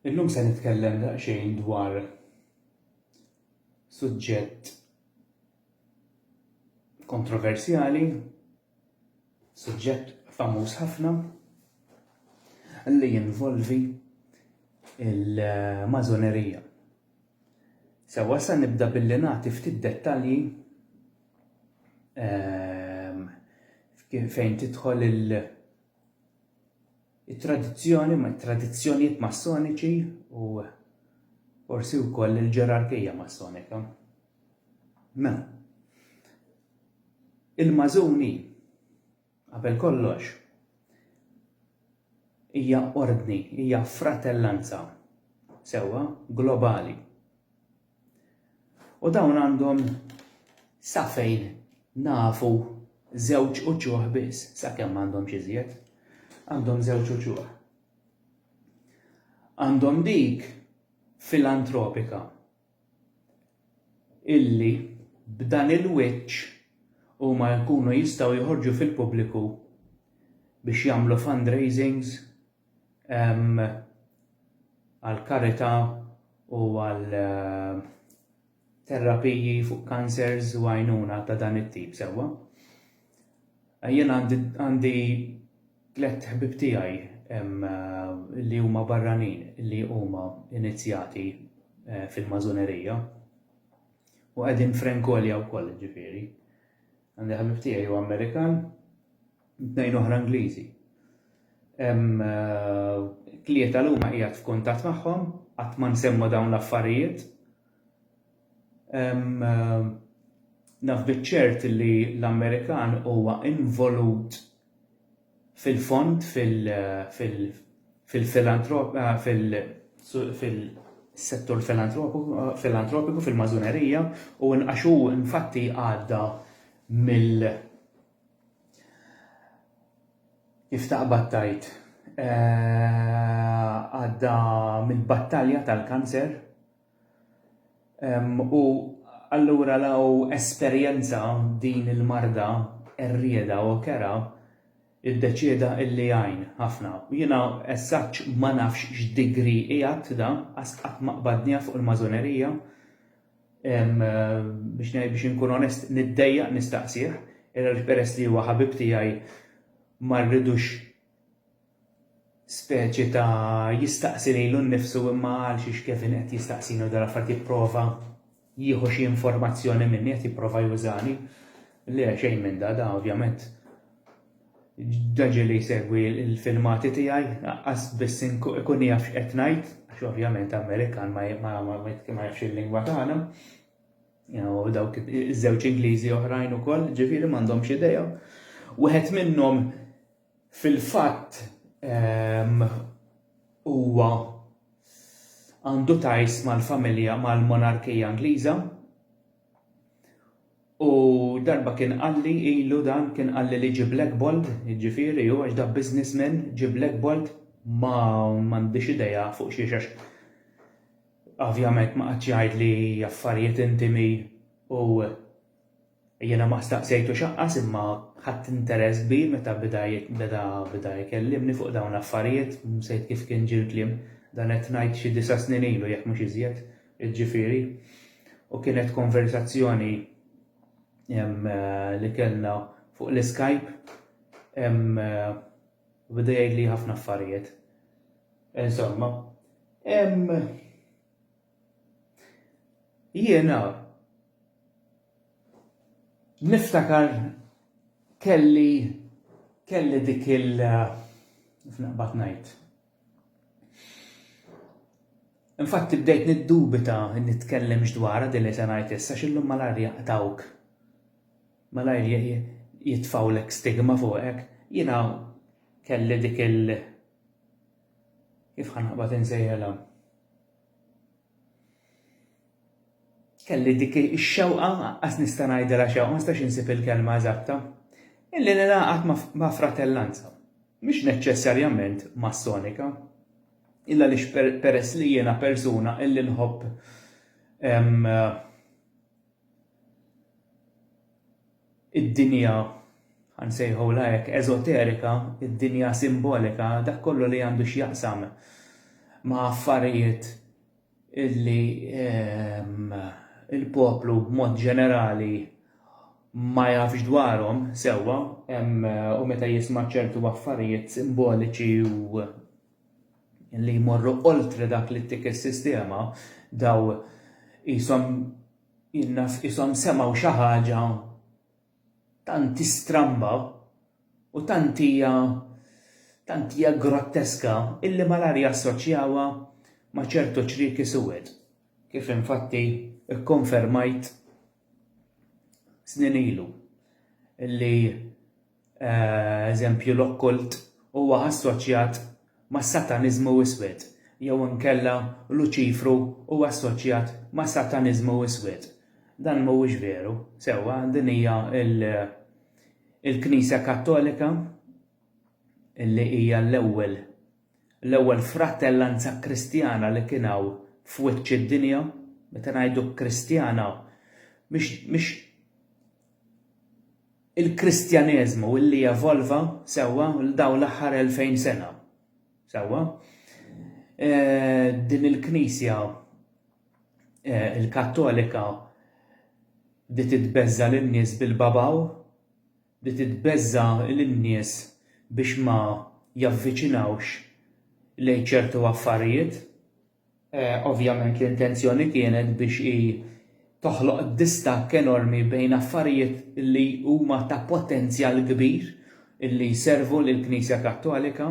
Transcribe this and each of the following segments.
Illum se nitkellem daqsxejn dwar suġġett kontroversjali, suġġett famuż ħafna li jinvolvi il-mażonerija. Sewa sa nibda billi nagħti ftit dettalji ehm, fejn tidħol il- it-tradizzjoni, it-tradizzjonijiet massoniċi u forsi wkoll il-ġerarkija massonika. Mela, il-mażuni qabel kollox hija ordni, hija fratellanza sewwa globali. U dawn għandhom sa fejn nafu żewġ uċuħ biss, sakemm m'għandhomx iżjed, għandhom żewġ uċuħ. Għandhom dik filantropika illi b'dan il-wiċċ huma jkunu jistgħu joħorġu fil-pubbliku biex jagħmlu fundraisings għal karità u għal eh, terapiji fuq cancers u għajnuna ta' dan it-tip sewwa. Eh, jien għandi tlet ħbib tiegħi eh, li huma barranin li huma inizjati fil-mażunerija u qegħdin frenkolja wkoll ġifieri. Għandi ħabib tiegħi u Amerikan b'tnejn oħra Ingliżi. Tlieta l huma qiegħed f'kuntatt magħhom, qatt ma nsemmu dawn l-affarijiet. Naf biċ-ċert li l-Amerikan huwa involut fil-fond fil-settur filantropiku fil-mażunerija u nqaxu infatti għadda mill Kif taqbad tgħid, għadda mill-battalja tal-kanser u allura law esperjenza din il-marda qerrieda u kerha, iddeċieda illi jgħin ħafna. Jiena eżatt ma nafx x'degree qiegħed da, għax qatt ma qbadniha fuq il-Masonerija, biex ngħid biex inkun onest niddejjaq nistaqsih, għaliex peress li huwa ħabib tiegħi ma rridux speċi ta' jistaqsi lejlu nnifsu imma għal xiex Kevin qed jistaqsini u dal affarijiet jipprova jieħu xi informazzjoni minni qed jipprova jużani. Le xejn minn da, da ovvjament Ġaġi li jsegwi l-filmati tiegħi laqqas biss ikun jaf x'qed ngħid, għax ovvjament Amerikan ma jafx il-lingwa tagħna. U dawk iż-żewġ Ingliżi oħrajn ukoll, ġifieri m'għandhomx idea. Wieħed minnhom fil-fatt ehm, huwa għandu tajs mal-familja mal-monarkija Ingliża, U darba kien qalli ilu dan kien qalli li ġi Black Bolt, jiġifieri hu għax da businessman, ġi Black Bolt ma m'għandix idea fuq xiex għax ovvjament ma qagħadx jgħidli affarijiet intimi u jiena ma staqsejtux aqqas imma ħadt interess kbir meta beda beda beda jkellimni fuq dawn l-affarijiet, msejt kif kien ġie l-kliem, dan qed ngħid xi disa' snin ilu jekk mhux iżjed, Jiġifieri, u kienet konversazzjoni li kellna fuq l-iskajp u beda jgħidli ħafna affarijiet. Insomma, jiena niftakar kelli kelli dik il-, kif naqbad ngħid? Infatti bdejt niddubita li nitkellemx dwarha din li se ngħid issa għax illum malajr jaqtgħuk, malajr jitfgħulek stigma fuqek. Jiena kelli dik il-, kif ħa naqbad insejħilha? Kelli dik ix-xewqa, qas nista' ngħidilha xewqa, ma nistax insib il-kelma eżatta, illi ningħaqad ma' fratellanza, mhix neċċessarjament Massonika, illa għaliex peress li jiena persuna illi nħobb id-dinja, ħa nsejħulha hekk, eżoterika, id-dinja simbolika, dak kollu li għandu x'jaqsam ma' affarijiet illi ehm, il-poplu b'mod ġenerali ma jafx dwarhom sewwa ehm, u meta jisma' ċertu affarijiet simboliċi u li jmorru oltre dak li ttik is-sistema daw qishom In-nas qishom semgħu xi ħaġa tant istramba u tant hija tant hija grotteska illi malajr jassoċjawha ma' ċertu ċrieki suwed, kif infatti kkonfermajt snin ilu, illi eżempju l-okkult, huwa assoċjat mas-Sataniżmu Iswed, jew inkella Luċifru huwa assoċjat mas-Sataniżmu Iswed. Dan mhuwiex veru, sewwa, din hija l-Knisja Kattolika li hija l-ewwel l-ewwel frattellanza Kristjana li kien hawn f'wiċċ id-dinja, meta ngħidu Kristjana mhix mhix il-Kristjaneżmu li evolva, sewwa, l-dawn l-aħħar elfejn sena. Sewwa? Din il-Knisja il-Kattolika bdiet itbeżża' lin-nies bil-babaw, bdiet itbeżża' lin-nies biex ma javviċinawx lejn ċertu affarijiet, Ovvjament l-intenzjoni kienet biex hi toħloq distakk enormi bejn affarijiet li huma ta' potenzjal kbir li jservu lill-Knisja Kattolika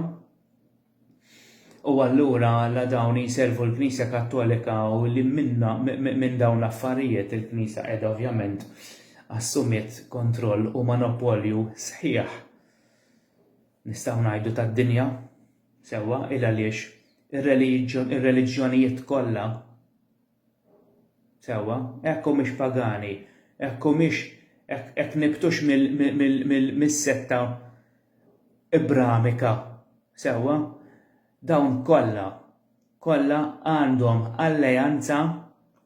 u allura la dawn jservu l-Knisja Kattolika u li minn dawn l-affarijiet il-Knisja qiegħda ovvjament assumiet kontroll u monopolju sħiħ nistgħu ngħidu tad-dinja. Sewwa, il għaliex ir-reliġjonijiet kollha, sewwa, hekk humiex pagani, hekk humiex hekk nibtux mis-setta Ibramika, sewwa, dawn kollha, kollha għandhom alleanza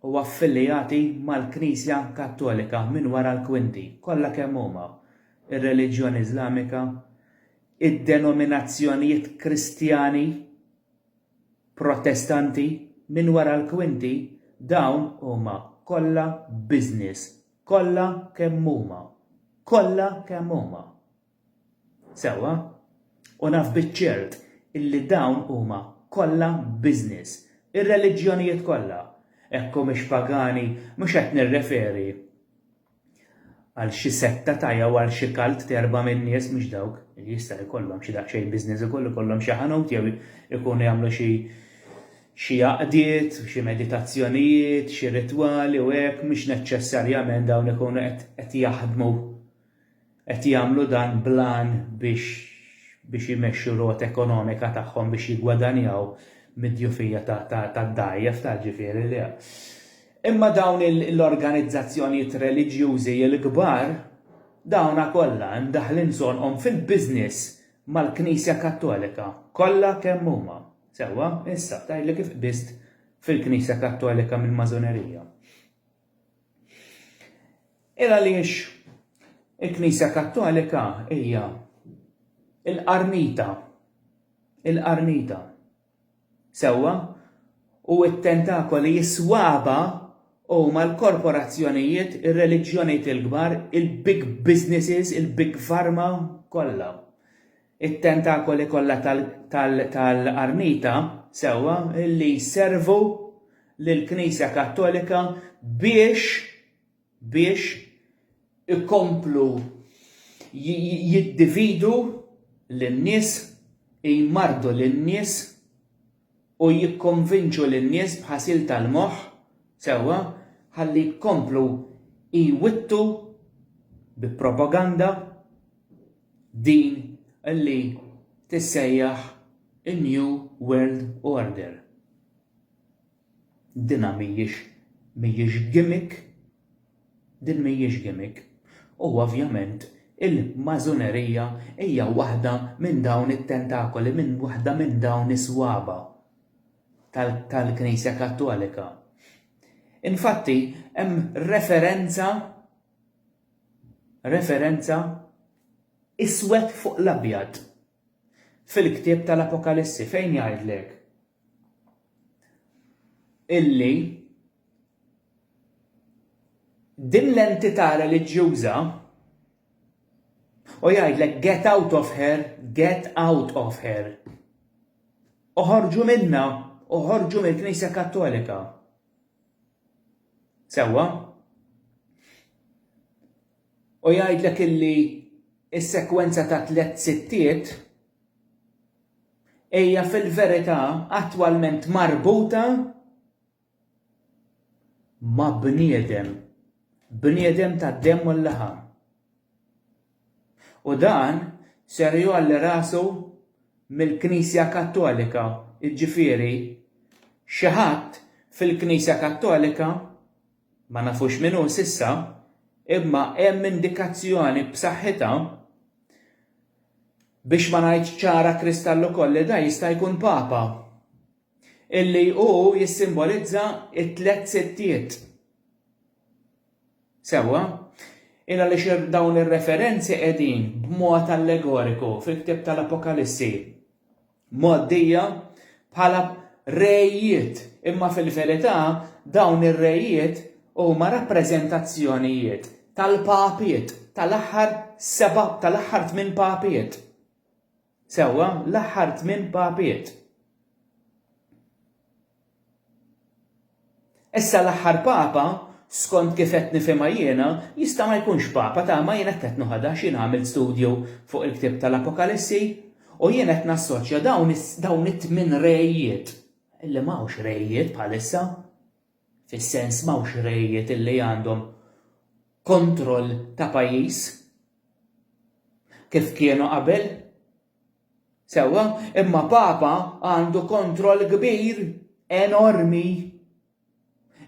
u affiljati mal-Knisja Kattolika minn wara l-kwinti, kollha kemm huma, ir-reliġjoni Iżlamika, id-denominazzjonijiet Kristjani, Protestanti, minn wara l-kwinti, dawn huma kollha business, kollha kemm huma, kollha kemm huma. Sewwa? U naf biċ-ċert illi dawn huma kollha business. Ir-reliġjonijiet kollha. Hekk humiex pagani, mhux qed nirreferi. għal xi setta ta' jew għal xi kalt t'erba' min-nies mhux dawk li jista' jkollhom xi daqsxejn business ukoll ikollhom xi ħanut jew ikunu jagħmlu xi xi għaqdiet, xi meditazzjonijiet, xi ritwali u hekk mhux neċċessarjament dawn ikunu qed jaħdmu Qed jagħmlu dan bl-għan biex biex imexxu r-rota ekonomika tagħhom biex jiggwadanjaw mid-djufija tad-dgħajjef ta' ġifieri li. Imma dawn l-organizzazzjonijiet reliġjużi l-kbar dawna kollha imdaħħlin sonqhom fil-business mal-Knisja Kattolika kollha kemm huma. Sewwa, issa tgħidli kif qbiżt fil-Knisja Kattolika mill-Masonerija? Il għaliex il-Knisja Kattolika hija l-qarnita, il-qarnita, sewwa, u t-tentakoli s-swaba huma l-korporazzjonijiet, ir-reliġjonijiet il-kbar, il-big businesses, il-big pharma kollha. it-tentakoli kollha tal-qarnita, sewwa, li jservu lill-Knisja Kattolika biex, biex ikomplu jiddividu lin-nies, jmarrdu lin-nies, u jikkonvinċu lin-nies b'ħasil tal-moħħ sewwa ħalli jkomplu jwittu bi propaganda din li tissejjaħ in-New World Order. Dinha mhijiex mhijiex gimmick. Din mhijiex gimmick. U ovvjament il-Mażunerija hija waħda minn dawn it-tentakoli, minn waħda minn dawn is-swaba' tal-Knisja Kattolika. Infatti hemm referenza, referenza iswed fuq l-abjad. fil-ktieb tal-Apokalissi fejn jgħidlek illi din l-entità reliġjuża u jgħidlek get out of her, get out of her. Uħorġu minna, uħorġu mill-Knisja Kattolika. Sewa? U jgħidlek illi s-sekwenza ta' tliet sittiet hija fil-verità attwalment marbuta ma' bniedem, bniedem tad-demm u l-laħam. U dan ser jgħolli rasu mill-Knisja Kattolika, jiġifieri xi ħadd fil-Knisja Kattolika, Ma nafux min hu s'issa, imma hemm indikazzjoni b'saħħitha, biex ma ngħidx ċara kristall ukoll li dan jista' jkun Papa, illi hu jissimbolizza t-Tliet Sittiet. Sewwa? Ilgħaliex dawn ir-referenzi qegħdin, b'mod allegoriku, fil-ktieb tal-Apokalissi. mgħoddija bħala rejiet, imma fil-verità dawn ir-rejiet huma rappreżentazzjonijiet tal-papiet, tal-aħħar seba' tal-aħħar tmien papiet. Sewwa, l-aħħar tmien papiet. Issa l-aħħar Papa, skont kif qed nifhimha jiena, jista' ma jkunx Papa ta' ma jien hekk qed noħodha għax jien għamilt studju fuq il-ktieb tal-Apokalissi u jien qed nassoċja dawn dawn it-tmien rejiet, li m'hawnx rejiet bħalissa, fis-sens m'hawnx rejiet li għandhom kontroll ta' pajjiż kif kienu qabel, Sewwa, imma Papa għandu kontroll kbir, enormi.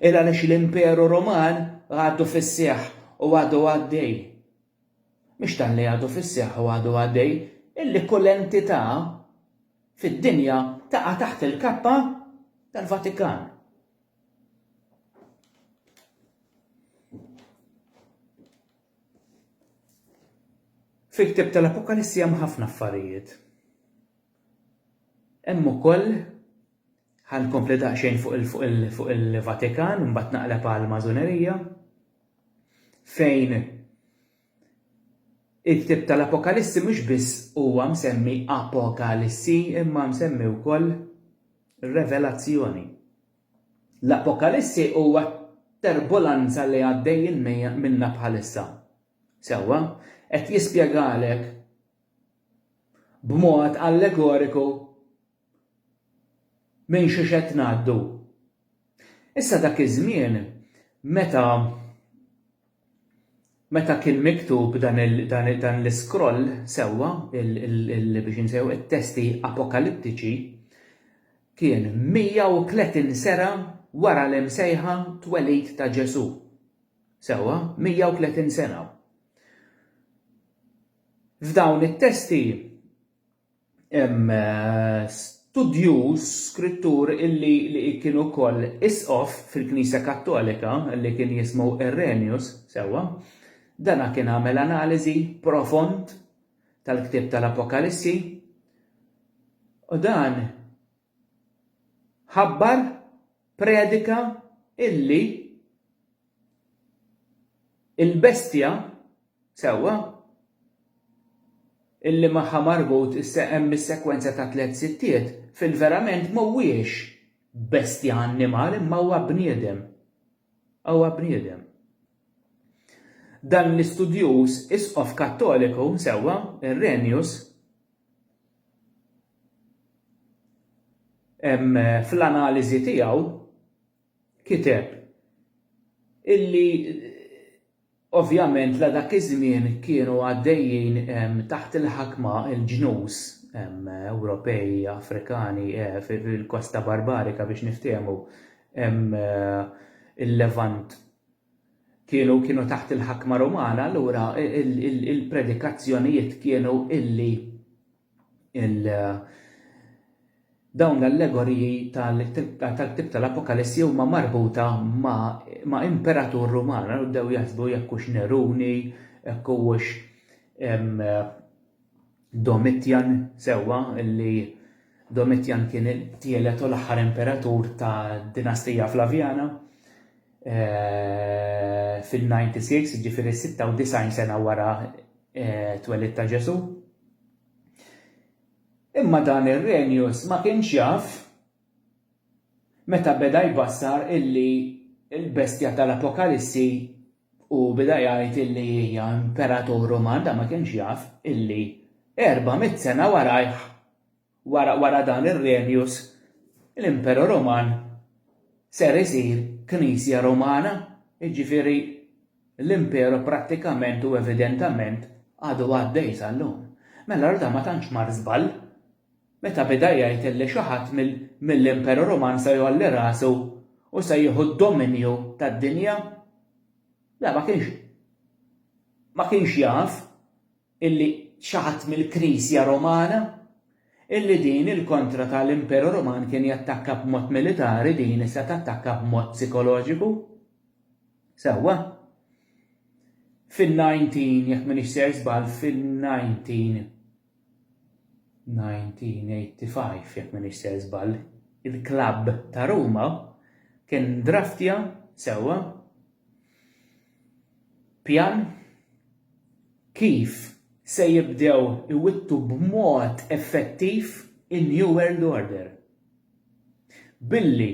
Il għaliex l-Imperu Ruman għadu fis-seħħ u għadu għaddej. Mhux talli għadu fis-seħħ u għadu għaddej, illi kull entità fid-dinja taqa' taħt il-kappa tal-Vatikan. Fil-ktieb tal-Apokalissi hemm ħafna affarijiet. Hemm ukoll ħa nkompli daqsxejn fuq il-Vatikan, mbagħad naqleb għal mażunerija fejn il-ktib tal-Apokalissi mhux biss huwa msemmi Apokalissi imma msemmi wkoll Revelazzjoni. L-Appokalissi huwa t-terbolanza li għaddejjin minnha bħalissa. Sewwa, qed jispjegalek b'mod allegoriku minn xiex qed ngħaddu. Issa dak iż-żmien meta Meta kien miktub dan l-iskroll sewwa, biex insejħu, it-testi Apokaliptiċi, kien 130 sena wara l-imsejħa twelid ta' Ġesù. Sewwa, 130 sena. F'dawn it-testi, Hemm studjuż, skrittur illi li kien ukoll isqof fil-Knisja Kattolika li kien jismu Irenaeus, sewwa, dana kien għamel analiżi profond tal-ktieb tal-Apokalissi u dan ħabbar, predika, illi, il-bestja, sewwa, illi magħha marbut hemm is-sekwenza ta' tliet sittiet, fil-verament m'huwiex bestja annimal imma huwa bniedem. Huwa bniedem. Dan l-istudjuż Isqof Kattoliku, sewwa, Irenaeus, fl-analiżi tiegħu kiteb illi ovvjament la dak iż-żmien kienu għaddejjin taħt il-ħakma l-ġnus Ewropej, Afrikani fil-kosta barbarika biex niftehmu il-Levant kienu kienu taħt il-ħakma Rumana allura il-predikazzjonijiet kienu illi il dawn l-allegoriji tal-ktieb tal-Apokalissi huma marbuta ma' imperatur Ruman, għal bdew jaħsbu jekk hux Neruni, jekk huwiex Domitian sewwa li Domitian kien it-tielet u l-aħħar imperatur tad-dinastija Flavjana. fil-96, jiġifieri 96 sena wara t-twelid ta' Ġesù. Imma dan Irrenius ma kienx jaf meta beda jbassar illi l-bestja tal-Apokalissi u beda jgħid illi hija imperatur Ruman, dan ma kienx jaf illi 400 sena warajh Wara wara dan ir-Regnus, l-Imperu Ruman ser isir Knisja Rumana, jiġifieri l-Imperu prattikament u evidentament għadu għaddej sal-lum. Mela allura dan ma tantx mar żball meta beda jgħid illi xi ħadd mill-Imperu Ruman se jgħolli rasu u se jieħu d-dominju tad-dinja. Le ma kienx ma kienx jaf illi xaħat mill-Knisja Romana, illi din il-kontra ta' l-Imperu Roman kien jattakka b'mod militari din issa tattakka b'mod psikoloġiku. Sewwa. Fin-19 jekk m'iniex ser żball fin-19 1985 jekk m'iniex ser żball il-klabb ta' Ruma kien draftja sewwa Pjan kif se jibdew iwittu b'mod effettiv in-New World Order. Billi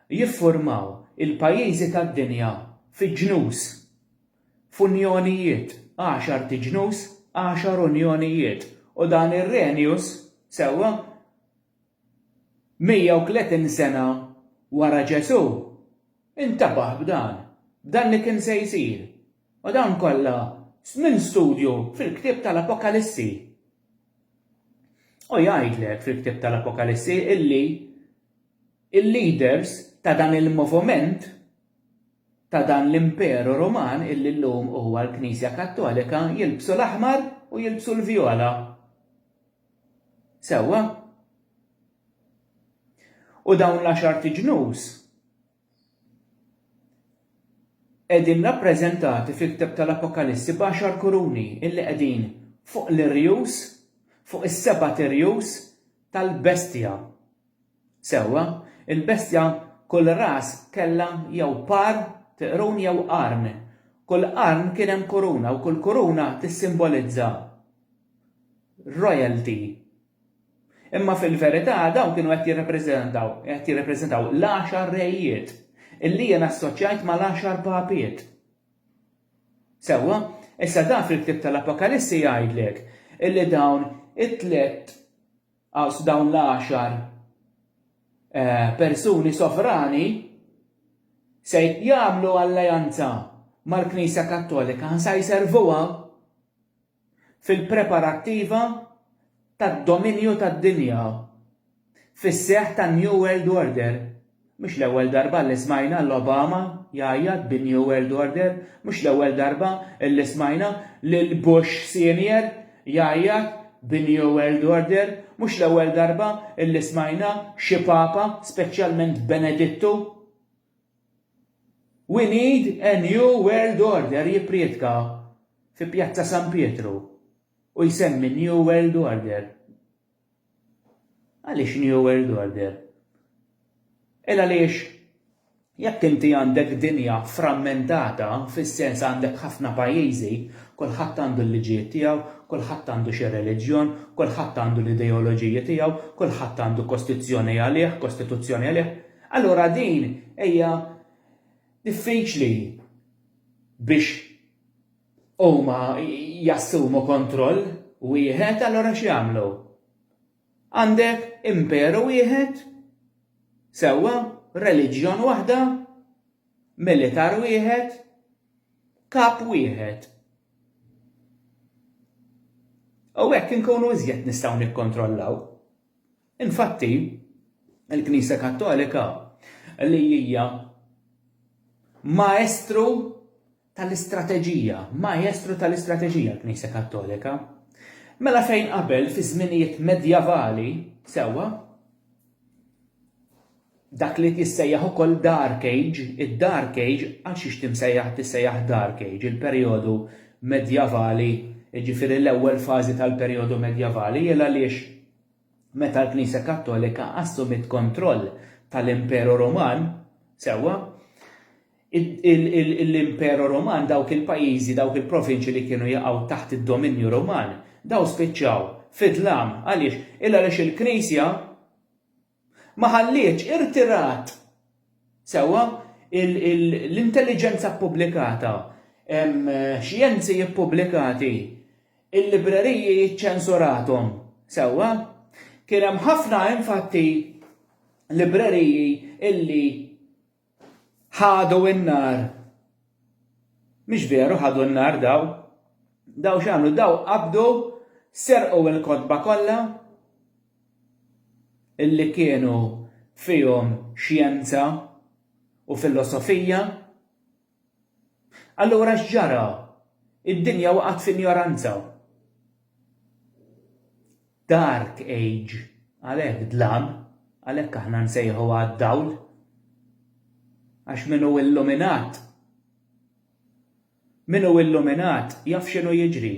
jiffurmaw il-pajjiżi tad-dinja fi ġnus, f'unjonijiet, għaxart ġnus, għaxar unjonijiet, u dan ir-renjus, sewwa, 130 sena wara Ġesù, intabaħ b'dan, b'dan li kien se jsir, u dawn kollha minn studju fil-ktieb tal-Apokalissi. U jgħidlek fil-ktieb tal-Apokalissi illi il-leaders ta' dan il-movument ta' dan l-imperu Ruman illi llum huwa l-Knisja Kattolika jilbsu l-aħmar u jilbsu l-vjola. Sewwa? U dawn l-għaxart iġnus qegħdin rappreżentati fil-ktieb tal-Apokalissi b'għaxar kuruni illi qegħdin fuq l-irjus, fuq is-sebat irjus tal-bestja. Sewwa, il-bestja kull ras kellha jew par t' qrun jew qarn. Kull qarn kien hemm kuruna u kull kuruna tissimbolizza royalty. Imma fil-verità dawn kienu qed jirrappreżentaw, qed jirrappreżentaw l-għaxar rejiet, illi jien assoċjajt mal-għaxar papiet. Sewwa, issa dan fil-ktieb tal-Apokalissi jgħidlek illi dawn it-tliet Għax dawn l-għaxar persuni sovrani se jagħmlu alleanza mal-Knisja Kattolika, se jservuha fil-preparattiva tad-dominju tad-dinja fis-seħħ tan-New World Order. Mhux l-ewwel darba li smajna 'l Obama jgħajjat bin-New World Order, mhux l-ewwel darba li smajna lil Bush Senior jgħajjat bin-New World Order, mhux l-ewwel darba li smajna xi Papa, speċjalment Benedittu, We need a New World Order jipprietka fi Pjazza San Pietru u jsemmi n-New World Order. Għaliex New World Order? Il għaliex jekk inti għandek dinja frammentata, fis-sens għandek ħafna pajjiżi, kulħadd għandu l-liġijiet tiegħu, kulħadd għandu xi reliġjon, kulħadd għandu l-ideoloġiji tiegħu, kulħadd għandu kostizzjoni għalih, kostituzzjoni għalih, allura din hija diffiċli biex huma jassumu kontroll wieħed allura x'jagħmlu? Għandek imperu wieħed, sewwa, reliġjon waħda, militar wieħed, kap wieħed. U hekk inkunu iżjed nistgħu nikkontrollaw. Infatti, il-Knisja Kattolika li hija maestru tal-istrateġija, maestru tal-istrateġija l-Knisja Kattolika. Mela fejn qabel fiż-żminijiet medjavali, sewwa, dak li tissejjaħ ukoll dark age, id-dark age għal xiex timsejjaħ tissejjaħ dark age, il-perjodu medjavali, jiġifieri l-ewwel fażi tal-perjodu medjavali, il għaliex meta l-Knisja Kattolika assumiet kontroll tal-Imperu Ruman, sewwa, l-Imperu Ruman dawk il-pajjiżi, dawk il-provinċi li kienu jaqgħu taħt id-dominju Ruman, dawn spiċċaw fid-dlam. Għaliex? Illa għaliex il-Knisja ma ħallietx, irtirat, sewwa, l-intelliġenza ppubblikata, xjenzi ppubblikati, il-libreriji iċċensurathom, sewwa. Kien hemm ħafna, infatti, libreriji li. ħadu n-nar. Mhix veru ħadu n-nar daw. Daw x'għamlu? Daw qabdu serqu l-kotba kollha illi kienu fihom xjenza u filosofija Allura x'ġara? Id-dinja waqgħet f'injoranza. Dark age, għalhekk dlam, għalhekk aħna nsejħu għad-dawl. Għax min hu illuminat, min hu illuminat jaf x'inhu jiġri.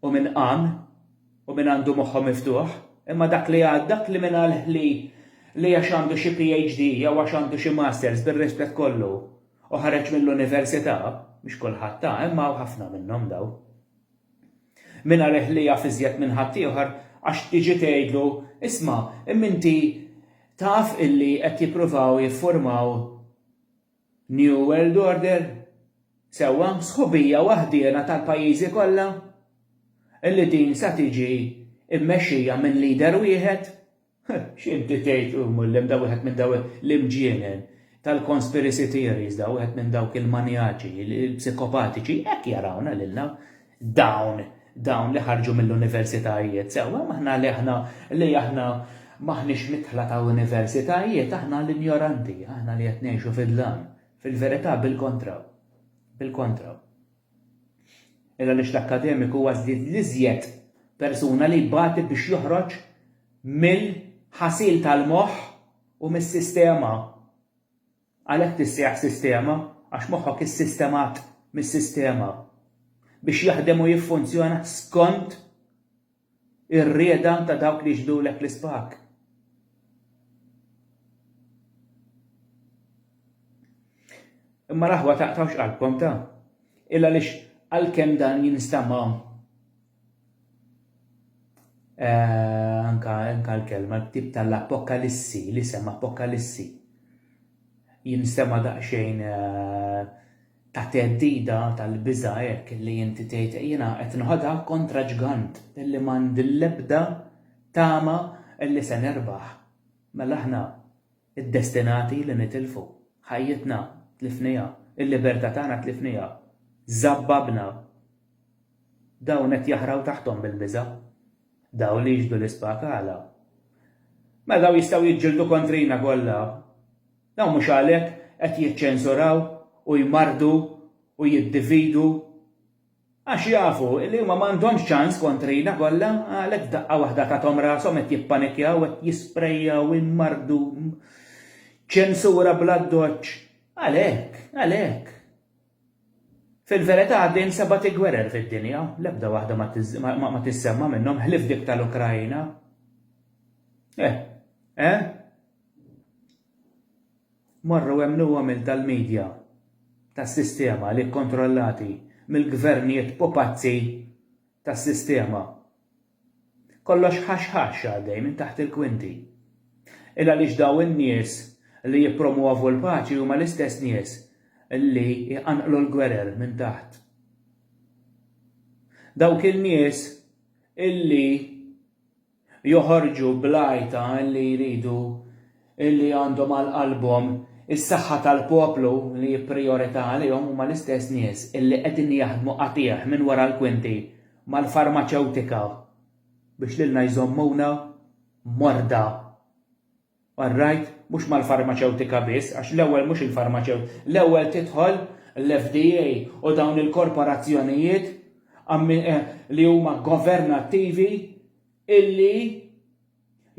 u min qam, u min għandu moħħu miftuħ, imma dak li għad, dak li mingħalh li li għax għandu xi PhD jew għax għandu xi Masters, bir-rispett kollu, u ħareġ mill-università, mhux kulħadd ha, imma hawn ħafna minnhom dawn, mingħalh li jaf iżjed minn ħaddieħor għax tiġi tgħidlu, isma' imma inti taf illi qed jippruvaw jiffurmaw New World Order? Sewwa, sħubija waħdiena tal-pajjiżi kollha? Illi din sa tiġi mmexxija minn leader wieħed? X'inti tgħid, u Mullim, da wieħed minn daw l-imġienen tal-conspiracy theories, da wieħed minn dawk il-manjaċi, il-psikopatiċi, hekk jarawna lilna. dawn dawn li ħarġu mill-universitajiet sewwa aħna li aħna li aħna maħniex mitħla ta' universitajiet aħna l-injoranti, aħna li qed ngħixu fid-dlam. Fil-verità bil-kontra. Bil-kontra. Illa li l-akkademiku huwa l-iżjed persuna li jbati biex joħroġ mill-ħasil tal-moħħ u mis-sistema Għalhekk tissejjaħ sistema, għax moħħok issistemat mis-sistema biex jaħdem u jiffunzjona skont ir-rieda ta' dawk li jixbdulek l-ispak. Imma l-aħwa taqtgħux qalbkom ta'. Illa għaliex għalkemm dan jinstama'. Eh, anka, anka l-kelma, tip tal-apokalissi, l-isem apokalissi. Jinstema daqxejn eh, ta' teddida tal-biża hekk li inti tgħid jiena qed nħodha kontra ġgant illi m'għandi l-ebda tama illi se nerbaħ. Mela aħna id-destinati li nitilfu. Ħajjitna tlifnija, il-libertà tagħna tlifnija. Zabbabna Dawn qed jaħraw taħthom mill-biża'. Dawn li jixhdu l-ispakala. Mela dawn jistgħu jiġġieldu kontrina kollha. Dawn mhux għalhekk qed jiċċensuraw u jmarrdu u jiddividu. Għax jafu li huma m'għandhomx ċans kontrina kollha, għalhekk f'daqqa waħda tathom rashom qed jippanikkjaw, qed jisprejjaw, immarrdu. Ċensura bl-addoċċ. Għalhekk, għalhekk. Fil-verità għaddejin sebgħati gwerer fid-dinja, l-ebda waħda ma tissemma minnhom ħlief dik tal-Ukraina. Eh, eh? Morru emmnuhom il tal-media, tas-sistema li kkontrollati mill-gvernijiet pupazzi tas-sistema. Kollox ħax ħax għaddej minn taħt il-kwinti. Il għaliex daw in-nies li jippromwovu l-paċi huma l-istess nies li jqanqlu l-gwerer minn taħt. Dawk in-nies illi joħorġu bl-għajta li jridu li għandhom għal qalbhom is-saħħa tal-poplu li hi prijorità għalihom huma l-istess nies li qegħdin jaħdmu qatigħ minn wara l-kwinti mal-farmaċewtika biex lilna jżommuna morda. All right, mhux mal-farmaċewtika biss għax l-ewwel mhux il-farmaċew, l-ewwel tidħol l-FDA u dawn il-korporazzjonijiet li huma governattivi illi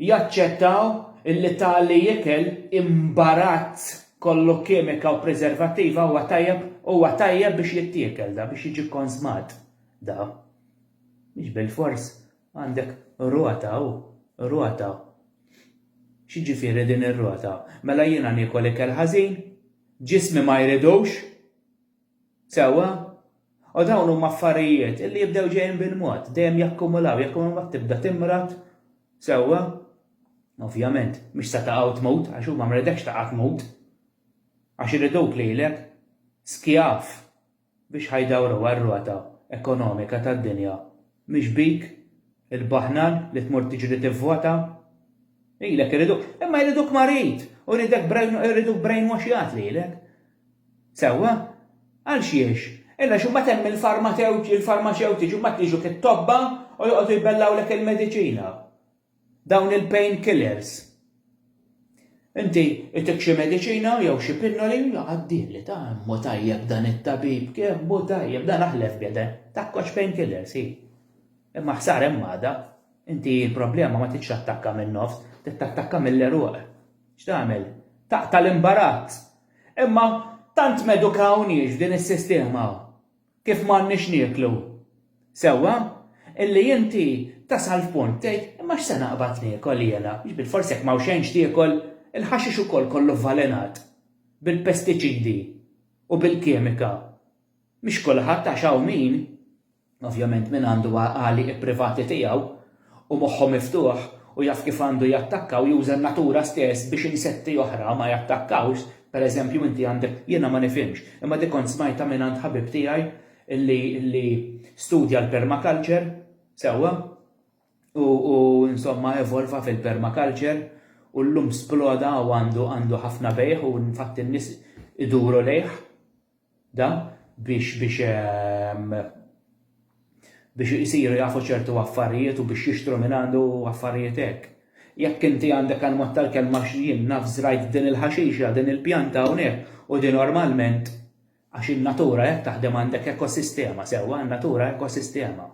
jaċċettaw li tali ikel imbarat kollu kimika u preservattiva huwa tajjeb huwa tajjeb biex jittiekel da biex jiġi kkonżmat da mhix bilfors għandek rota u rota x'jiġifieri din ir-rota mela jiena niekol ikel ħażin ġismi ma jridux Sewwa? U dawn huma affarijiet li jibdew ġejjin bil-mod, dejjem jakkumulaw, jakkumulaw mbagħad tibda timrad, sewwa? Ovvjament, mhux se taqgħu tmut għax hu ma mridekx taqa' tmut. Għax iriduk lilek skjav biex ħa jdawruha r-rota ekonomika tad-dinja. Mhux bik, il-baħnan li tmur tiġri tivvota? Lilek iriduk, imma jriduk marid u jridek brain, iriduk brainwashjat lilek. Sewwa? Għal xiex? Illa x'imbagħad hemm il-farmatewt, il-farmaċewtiċi imbagħad jiġu fit-tobba u joqogħdu jbellgħulek il-mediċina. Dawn il-pain killers. Inti itik xi mediċina jew xi pinnoli u jgħaddi li ta' immu tajjeb dan it-tabib, kemm hu tajjeb dan aħlef bjede, takkox pain killers hi. Imma ħsar hemm għada, inti l-problema ma titx attakka min-nofs, tittakka mill-eruq. X'tagħmel? Taqta' l-imbarazz. Imma tant m'edukawniex f'din is-sistema kif m'għandniex nieklu. Sewwa, illi inti tasal f'punt tgħid, imma x'se naqbad niekol jiena? Jiġifieri forsi jekk m'hawn xejn x'tiekol, il-ħaxix ukoll kollu vvalenat bil-pestiċidi u bil-kimika. Mhix kulħadd għax hawn min. Ovvjament min għandu għaqali ipprivati tiegħu u moħħu miftuħ u jaf kif għandu jattakka u juża n-natura stess biex insetti oħra ma jattakkawx, per eżempju inti għandek, jiena ma nifhimx, imma dik kont smajtha mingħand ħabib tiegħi li studja l-permaculture, sewwa, u insomma evolva fil-permaculture u llum sploda u għandu ħafna bejgħ u infatti n-nies iduru lejh. da biex biex biex isiru jafu ċertu affarijiet u biex jixtru minn għandu affarijiet hekk. Jekk inti għandek għal mod tal-kelma għax jien naf żrajt din il-ħaxixa, din il-pjanta hawnhekk u din normalment għax in-natura hekk taħdem għandek ekosistema, sewwa, in-natura ekosistema.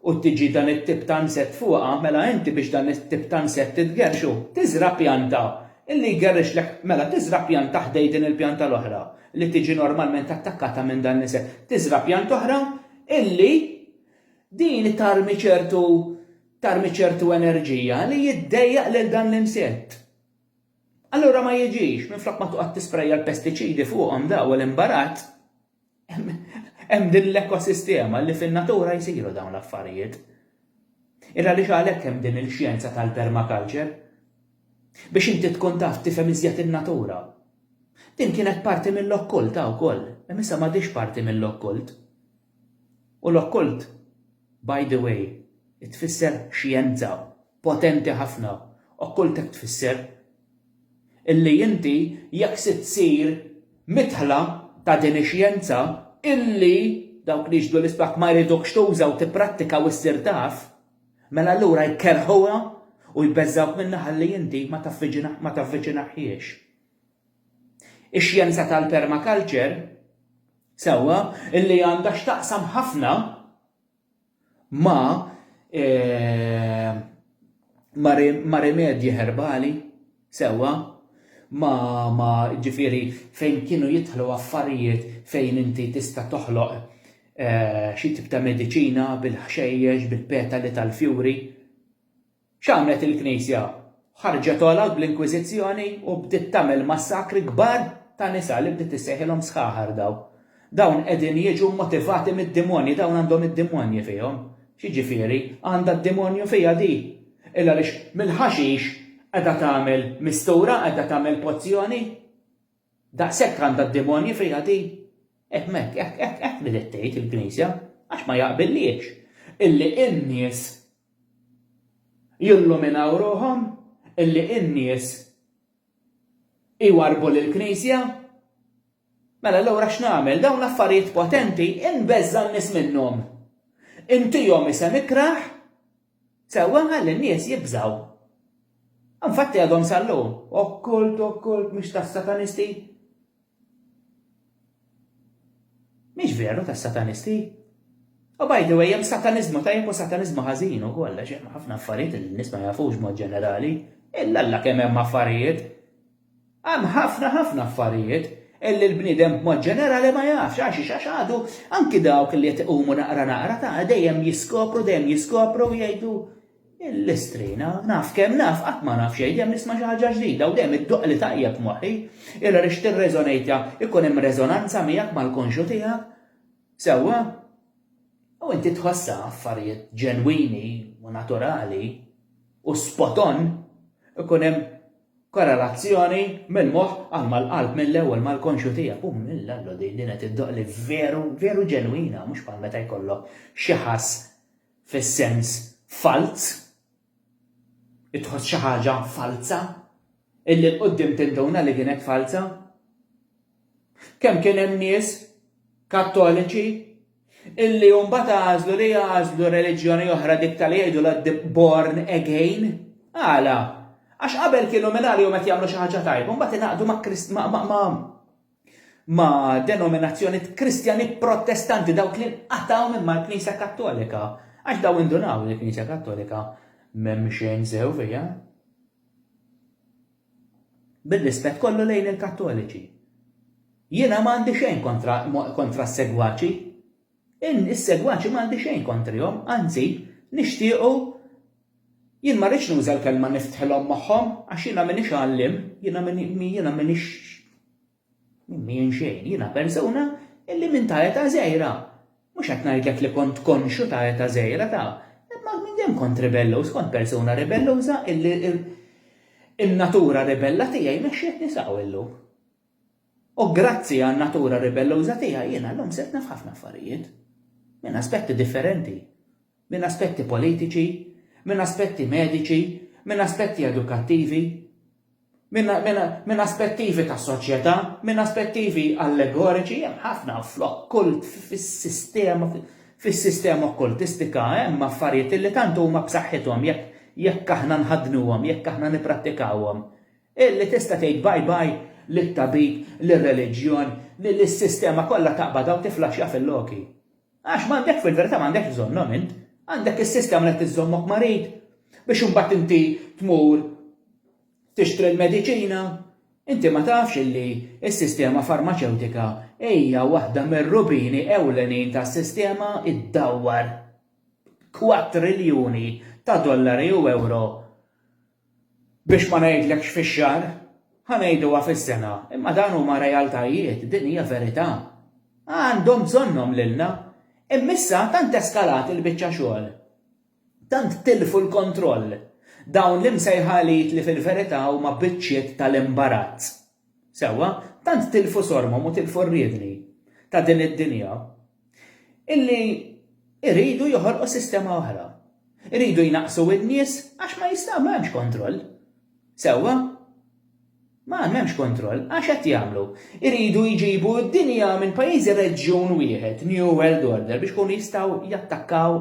u tiġi dan it-tip ta' nsett fuqha, mela inti biex dan it-tip ta' nsett itgerrxu, tiżra' pjanta li jgerrixlek, mela tiżra' pjanta ħdej din il-pjanta l-oħra li tiġi normalment attakkata minn dan l-insett. Tiżra' pjanta oħra illi din tarmi ċertu tarmi ċertu enerġija li jiddejjaq lil dan l-insett. Allura ma jiġix, minflok ma toqgħod tisprejja l-pestiċidi fuqhom daw l-imbarat, Hemm din l-ekosistema li fin-natura jsiru dawn l-affarijiet. Ira għaliex għalhekk hemm din il-xjenza tal-permaculture. Biex inti tkun taf tifhem iżjed in-natura. Din kienet parti mill-okkult ha wkoll, imma issa m'għadhiex parti mill-okkult. U l-okkult, by the way, tfisser xjenza Potenti ħafna, okkultek tfisser? Illi inti jekk sitt ssir midħla ta' din ix-xjenza illi dawk li jixhdu l-isbaħ ma jridukx tuża u tipprattika u ssir taf, mela allura jkerrħuha u jbeżżgħuk minnha ħalli inti ma tavviċinahiex. Ix-xjenza tal-permaculture, sewwa, illi għandha x'taqsam ħafna, Ma ma ma rimedji herbali, sewwa, ma ma ġifieri fejn kienu jidħlu affarijiet fejn inti tista' toħloq xi tip ta' mediċina bil-ħxejjex, bil-petali tal-fjuri. X'għamlet il-Knisja? Ħarġet għolod bl-Inkwiżizzjoni u bdiet tagħmel massakri kbar ta' nisa li bdiet issejħilhom sħaħar dawn. Dawn qegħdin jiġu mmotivati mid-dimonji, dawn għandhom id-dimonji fihom. X'jiġifieri? Għandha d-dimonju fiha di? Illa għaliex mill-ħaxix qiegħda tagħmel mistura, qiegħda tagħmel pozzjoni? Daqshekk għandha d-demonji fiha din? Ehm hekk, hekk, hekk, hekk bdiet tgħid il-Knisja, għax ma jaqbillhiex illi n-nies jilluminaw ruħhom, illi n-nies iwarrbu lill-Knisja. Mela allura x'nagħmel? Dawn l-affarijiet potenti inbeżża' n-nies minnhom. Intihom isem ikrah Sewwa nħalli n-nies jibżgħu. Infatti għadhom sal-lum, okkult, okkult, mhux tas-satanisti. Mhix veru tas-satanisti. U by the way, hemm sataniżmu tajjeb u sataniżmu ħażin ukoll għax hemm ħafna affarijiet li n-nies ma jafux mod ġenerali. Illa Alla kemm hemm affarijiet. Hemm ħafna, ħafna affarijiet illi l-bniedem b'mod ġenerali ma jafx. Għaxiex? Għax għadu, anki dawk li qed iqumu naqra naqra, ta' dejjem jiskopru, dejjem jiskopru u jgħidu, Il-Istrina, naf kemm naf, qatt ma naf xejn, dejjem nisma' xi ħaġa ġdida u dejjem iddoqqli tajjeb f'moħħi. Illa li x'tirreżonejtha, ikun hemm reżonanza miegħek mal-konxju tiegħek. Sewwa? U inti tħossha affarijiet ġenwini u naturali u spot on, ikun hemm korrelazzjoni mill-moħħ għal mal-qalb mill-ewwel mal-konxju tiegħek u mill-Alla din din qed iddoqq li veru, veru ġenwina mhux bħal meta jkollok xi ħass fis-sens falz, li tħoss xi ħaġa falza, illi l-qudiem tinduna li kienet falza. Kemm kien hemm nies kattoliċi illi mbagħad għażlu li jagħżlu reliġjoni oħra dik tal jgħidulha born again. Għala? Għax qabel kienu minn għalihom qed jagħmlu xi ħaġa tajba, mbagħad ingħaqdu ma' ma' denominazzjonijiet Kristjani Protestanti dawk li nqatgħu minn mal-Knisja Kattolika. Għax daw indunaw li l-Knisja Kattolika m'hemm xejn sew fiha. Bir-rispett kollu lejn il-Kattoliċi. Jiena m'għandi xejn kontra kontra s-segwaċi. In is-segwaċi m'għandi xejn kontrihom, anzi, nixtiequ jien ma rridx nuża l-kelma niftħilhom moħħhom għax jiena m'iniex għalliem, jiena jiena m'iniex Minn xejn, jiena persuna illi minn ta' età żgħira, mhux qed ngħidlek li kont konxju ta' età żgħira ta', imma minn dejjem kont ribelluż, kont persuna ribelluża illi n-natura ribella tiegħi mexxietni s'hawn illum. U grazzi għan-natura ribelluża tiegħi jiena llum sirt naf ħafna affarijiet. Minn aspetti differenti. Minn aspetti politiċi, minn aspetti mediċi, minn aspetti edukattivi. Minn aspettivi ta' soċjetà, minn aspettivi allegoriċi, hemm ħafna flokk kult fis-sistema fis-sistema okkultistika hemm affarijiet li tant huma b'saħħithom jekk jekk aħna nħaddnuhom, jekk aħna nipprattikawhom, illi tista' tgħid bye bye lit-tabib, lir-reliġjon, lis-sistema kollha taqbadha u tiflaxxa fil-loki. Għax m'għandek, fil-verità m'għandekx bżonnhom int. Għandek is-sistema li qed iżżommok marid biex imbagħad inti tmur tixtri l-mediċina. Inti ma tafx illi s-sistema farmaċewtika hija waħda mir-rubini ewlenin tas-sistema ddawwar kwatriljuni ta' dollari u ewro Biex ma ngħidlekx fix-xahar, ħa ngħiduha fis-sena, imma dawn huma realtajiet, din hija verità. Għandhom bżonnhom lilna. Imma issa tant eskalat il-biċċa xogħol, tant tilfu l-kontroll dawn l-imsejħa elit li fil-verità huma biċċiet tal-imbarazz. Sewwa, tant tilfu sormhom u tilfu r-riedni ta' din id-dinja, illi jridu joħolqu sistema oħra. Iridu jnaqqsu n-nies għax ma jistgħu, m'hemmx kontroll. Sewwa? Ma m'hemmx kontroll, għax hekk jagħmlu. Iridu jġibu d-dinja minn pajjiżi reġjun wieħed, New World Order, biex ikunu jistgħu jattakkaw